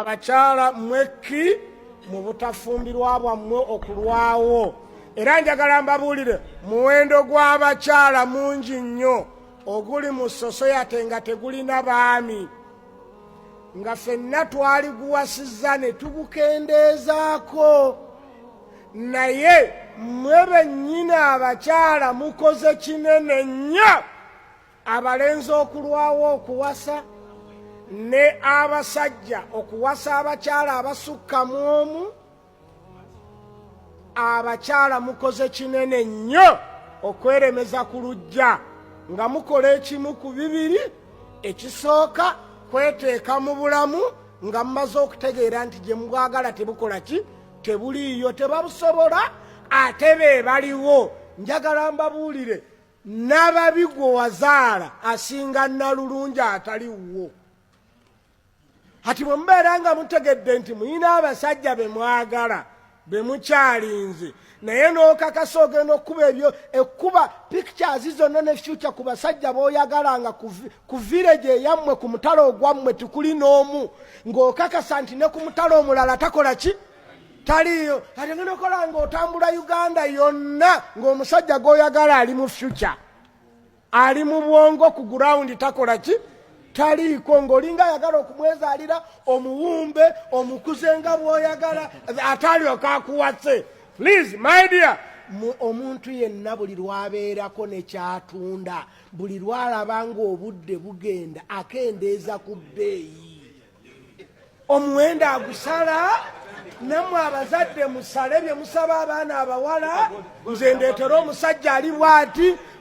abakyala mwekki mu butafumbirwa bwammwe okulwawo era njagala mbabuulire muwendo gw'abakyala mungi nnyo oguli mu sosoyate nga tegulina baami nga fenna twaliguwasizza ne tugukendeezaako naye mwe bennyini abakyala mukoze kinene nnyo abalenzi okulwawo okuwasa ne abasajja okuwasa abakyala abasukka mu omu abakyala mukoze kinene nnyo okweremeza ku lujja nga mukola ekimu ku bibiri ekisooka kweteeka mu bulamu nga mumaze okutegeera nti gye mubwagala tebukola ki tebuliiyo tebabusobola ate be baliwo njagala mbabuulire nababi gwe wazaala asinga nalulungi atali wuwo kati bwe mubeera nga mutegedde nti muyina abasajja be mwagala be mukyalinze naye n'okakasa ogenda okukuba ebyo ekkuba pictures zonna ne future ku basajja b'oyagalanga ku village eyammwe ku mutalo ogwammwe tikuli n'omu ng'okakasa nti ne ku mutalo omulala takola ki taliyo ate ngenda okola nga otambula uganda yonna ngaomusajja gwoyagala ali mu future ali mu bwongo ku gurawundi takola ki taliiko ngaolinga ayagala okumwezaalira omuwumbe omukuze nga bwoyagala atalyoka akuwase please my dear omuntu yenna buli lwabeerako nekyatunda buli lwalaba ngaobudde bugenda akendeeza ku bbeeyi omuwendo agusala namwe abazadde musale bye musaba abaana abawala nze ndeetera omusajja ali bwati